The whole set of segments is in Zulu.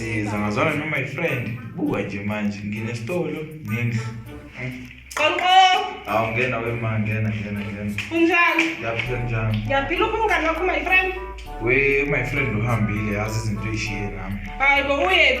sizangazwana no my friend buka nje manje nginesitolo nendlu Qonqo. Awu ngena we ma ngena ngena ngena. Unjani? Ngiyaphila njani? Ngiyaphila uphi umngane wakho my friend? We my friend uhambile yazi izinto eyishiye nami. Hayi bo uyephi?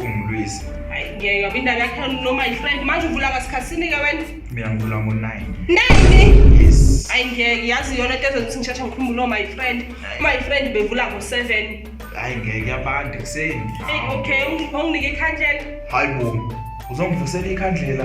ungilwise hayi ngeke ngoba indaba yakhe noma yifriend manje uvula ngasikhathini-ke wena mina ngivula ngo-nine nine hayi ngeke yazi yona into ezothi ngishasha ngikhumbule oma yifriend uma yifriend bevula ngo-seven hayi ngeke abantu ekuseni eyi okay unginike ikhandlela hayi bo uzongivusela ikhandlela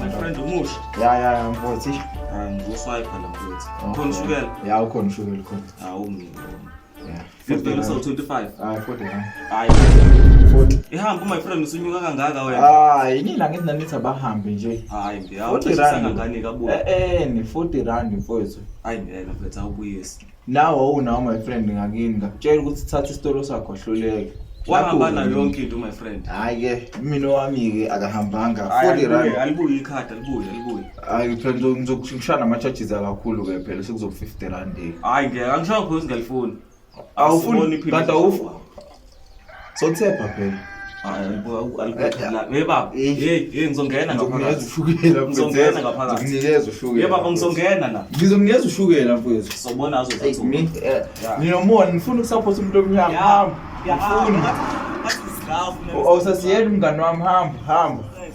My friend umusha. Ya ya ya mfowethu. Ah nguswiper la mfowethu. Ukhona ushukela? Ya ukhona ushukela ukhona. Ah umni. Yeah. 50 so 25. Ah 40. Hayi. 40. Ihamba my friend usunyuka kangaka wena. Ah yini la ngithi nanithi abahambe nje. Hayi ngiyawu. 40 rand ngani kabuya. Eh eh ni 40 rand mfowethu. Hayi ngeke mfowethu awubuyisi. Nawe unawo my friend ngakini ngakutshela ukuthi thatha isitolo sakho hluleke. Wahamba nayo yonke into my friend. Hayi ke mina wami ke akahambanga 40 rand. Alibuye ikhadi alibuye alibuye. Hayi phela ngizokushana ama charges akakhulu ke phela sekuzoku 50 rand. Hayi ngeke angisho khona singalifuni. Awufuni kanti awufu Sothepha phela. Yebaba, hey hey ngizongena ngaphakathi. Ushukela mfethu. Ngizongena ngaphakathi. Nginikeza ushukela. Yebaba ngizongena la. Ngizomnikeza ushukela mfethu. Sobona azothi. Nginomona ngifuna ukusupport umuntu omnyama. Hamba. Ngifuna. Awusasiyela umngani wami hamba hamba.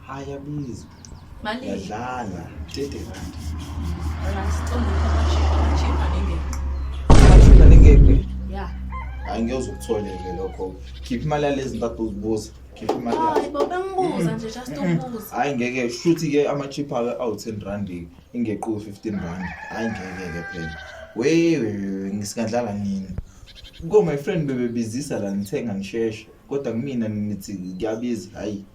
Haya bizi. Mali. Yadlala. Tete kanti. Wala siqonde ukuthi chipa ninge. Chipa ninge. Yeah. Angiyozwa ukutholeke lokho. Khipha imali yalezi mpathu uzibuza. Khipha imali. Hayi baba ngibuza nje just ubuza. Hayi ngeke shuthi ke ama chipa awu 10 rand ingequ 15 rand. Hayi ngeke ke phela. Wewe ngisingadlala nini? Ngo my friend bebebizisa la ngithenga ngisheshe. Kodwa kumina nithi kuyabiza hayi.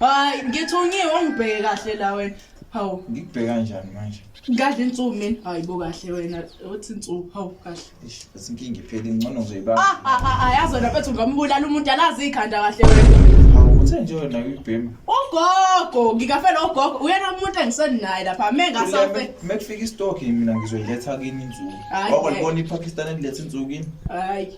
Hayi ngithungiwe ungibheke kahle la wena. Hawu ngikubheka kanjani manje? Ngadla insuku mina. Hayi bo kahle wena uthi insuku hawu kahle. Eish bese inkinga iphele ingcono nje ibaba. Ah ah ah, ah yazi wena bethu ngambulala umuntu alazi ikhanda kahle wena. Hawu uthe nje wena uyibhema. Ugogo ngikafela ugogo uyena umuntu engisenaye lapha me ngasafe. Mekufika istock mina ngizoyiletha kini insuku. Hayi, Wako eh. libona iPakistan eliletha insuku kini? Hayi.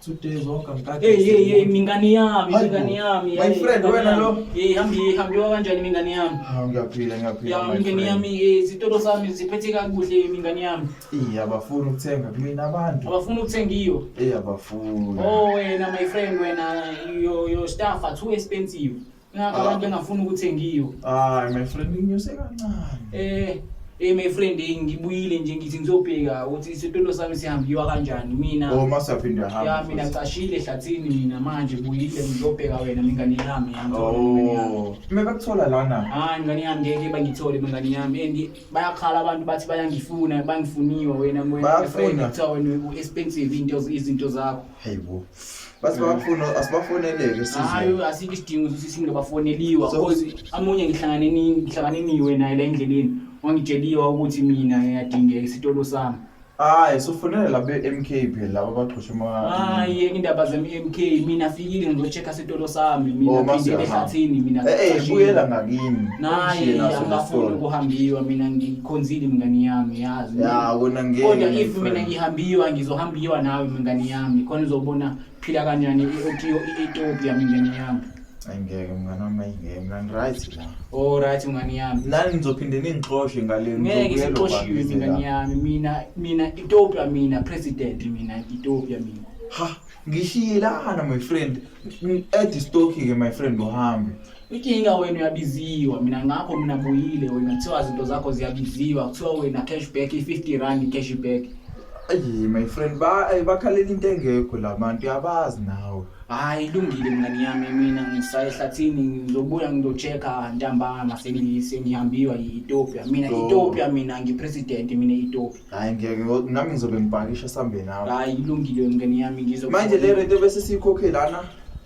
Two days walk I'm back. Hey hey hey mingani yami, mingani yami. My friend wena lo. Hey hambi hambi kanjani mingani yami? Ah ngiyaphila ngiyaphila. Ya mingani yami eh, izitolo zami ziphethe kakuhle mingani yami. Eh abafuni ukuthenga kumina abantu. Abafuni ukuthenga iyo. Eh abafuni. Oh wena my friend wena your your staff are too expensive. Ngakho abantu bengafuni ukuthengiwa. Hayi my friend nginyuse kancane. Eh Hey my friend hey ngibuyile nje ngithi ngizobheka ukuthi isitulo sami sihambiwa kanjani mina. Oh masaphinde hamba. Ya mina cashile ehlathini mina manje buyile ngizobheka wena mingane yami yami. Oh. Mina bakuthola lana. Hayi ngane yami ngeke bangithole mingane yami and bayakhala abantu bathi bayangifuna bangifuniwa wena moya. Bayafuna. Kuthiwa wena expensive into izinto zakho. Hey bo. Bathi bafuna asibafonelele usizo. Hayi asikho isidingo ukuthi singile bafoneliwa So- because amunye ngihlangane ni ngihlangane niwe naye la endleleni wangitsheliwa ukuthi mina ngiyadingeka isitolo sami. Hayi sufonela labe MK phela laba baxhosha ama Hayi indaba zami MK mina fikile ngizoche Kha sitolo sami mina Oh, mase phindile uyahamba. ehlathini mina Eh, eh, ngicashile. buyela ngakini. naye Ushiye naso angafuni nesitolo. ukuhambiwa mina ngikhonzile mngani yami yazi Ya, wena ngeke, kodwa my if mina friend. ngihambiwa ngizohambiwa nawe mngani yami khona uzobona phila kanjani i-otiyo i-etopia mngani yami Ayi, ngeke, mngani wami, ayi, ngeke, mina ngi-right la. olright mngani yami Nani nizophinde ningixoshe ngale ngeke ngizobuyela sixoshiwe kwami mngani la. yami mina mina etopia mina president mina etopia mina Ha, ngishiyelana my friend add stock ke my friend uhambe inkinga wena uyabiziwa mina ngakho mina buyile wena kuthiwa izinto zakho ziyabiziwa kuthiwa wena cash back i-50 rand cash back ayi my friend ba ay, bakhalela into engekho la bantu yabazi nawe hayi ilungile mina ngiyami mina ngisaye ehlathini ngizobuya ngizochecka ntambama sengi- sengihambiwa yi-ethiopia mina Sure. ethiopia mina ngipresident mina ethiopia hayi ngeke nami ngizobe ngibhakisha sambe nawe hayi ilungile mngane yami ngizo manje le rent bese siyikhokhe lana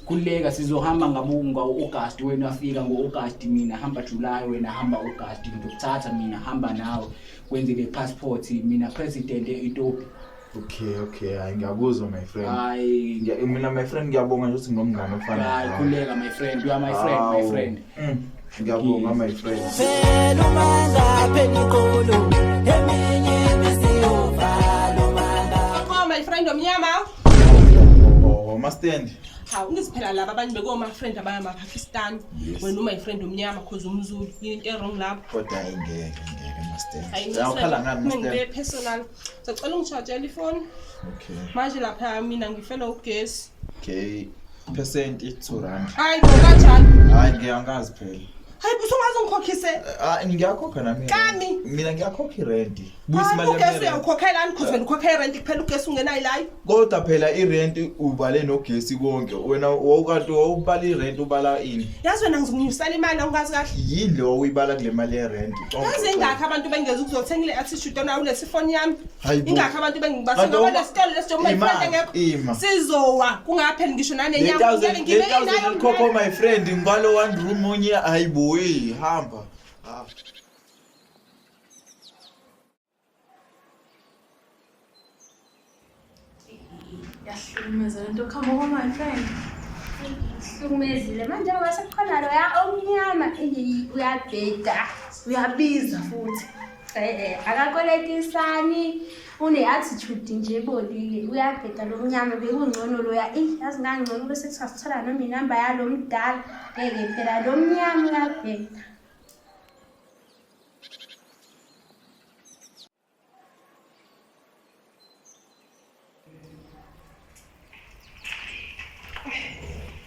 kuleka sizohamba ngabunga uAugust wena afika ngoAugust mina hamba July wena hamba August ngizokuthatha mina hamba nawe kwenze le passport mina president eEthiopia okay okay hayi ngiyakuzwa my friend hayi mina my friend ngiyabonga nje ukuthi nginomngane ofana hayi kuleka my friend you are my friend my friend Mm. Ngiyabonga my friend. Phela umanga phela iqolo eminye imisiyovala umanga. Akho my friend omnyama. Oh, oh ma stand. Ha unisiphela laba abanye beko ma friend abaya ma Pakistan. Wena my friend omnyama cause umzulu into e wrong lapho. Kodwa ingeke ngeke ma stand. Ayikhala ngani ma stand. Ngeke personal. Sacela ungishajela ifoni. Okay. Manje lapha mina ngifele ugesi. Okay. Percent i 2 rand. Hayi bo kanjani? Hayi ngiyangazi phela. Hayi buso ngaze ngikhokhise. Ah ngiyakhokha nami. Kami. Mina ngiyakhokha irent. Buyisimali yami. Hayi ugesi uyawukhokhela ani cause wena ukhokhela irent kuphela ugesi ungenayo layo. kodwa phela irent ubale nogesi konke wena wawukanti wawubala irent ubala ini yazi wena ngizinyusela imali awungazi kahle yini le wawuyibala kule mali yerent yazi ingakho abantu bengeza ukuzothenga ile attitude ona awulesi foni yami ingakho abantu bengibasa ngoba lesitolo lesijoma ifrente ngekho sizowa kungapheli ngisho nanenyama ngeke ngibe nayo khokho my friend ngibalo one room onye hayibo hamba ah. Yahlukumeza lento khamba kwa my friend. Hlukumezile manje njengoba sekukhona loya omnyama eyi uyabheda uyabiza futhi. Eh akakoletisani une-attitude nje ebolile uyabheda lo mnyama bekungcono loya eyi yazi ngangcono ube sekusasithola noma inamba yalo mdala ngeke phela lo mnyama uyabheda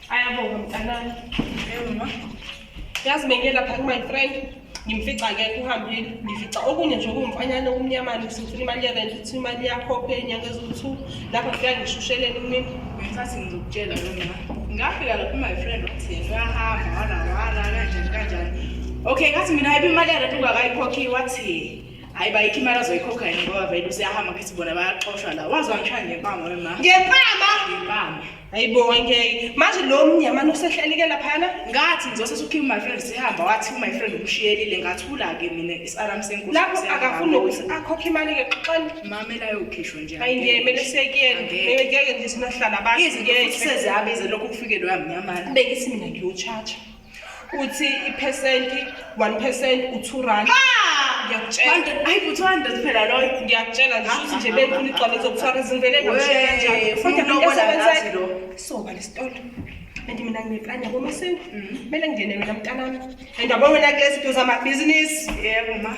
Ayabonga mntanami. Ewuma. Yazi bengiyela phakathi my friend. Ngimfica ke kuhambile. Ngifica okunye nje okumfanyana okumnyamana ngifuna imali yerent, uthi imali yakho phe inyanga eziwu-2. lapho ngifika ngishushelele umini ngenkathi ngizokutshela lona ngafika lapho my friend wathi yena uyahamba wala wala kanjani kanjani okay ngathi mina hayibe imali yarent ungakayikhokhi wathi hayi bayikho imali azoyikhokha yena ngoba vele useyahamba ngithi bona bayaxoshwa la wazi wangishaya ngempama wema ngempama ngempama hayibo ngeke manje lo mnyamana usehlelike laphana ngathi ngizose sukhiwe my friend sihamba wathi my friend umshiyelile ngathula ke mina isaram senkulu lapho akafuni ukuthi akhokhe imali ke xoxani mama elayo ukhishwa nje hayi ngeke mele sekuyena mele ngeke nje sinahlala abantu izinto futhi seziyabize lokho kufikele uyamnyamana bengisi mina ngiyochacha uthi iphesenti one percent u-two rand ngiyakutshela ngishuthi nje benkulu igcwale zokufaka izimvele soba lesitolo and mina ngineplani yabo masewu kumele ngingene mina mntanami and yabo wena kulezi nto zamabhizinisi yebo ma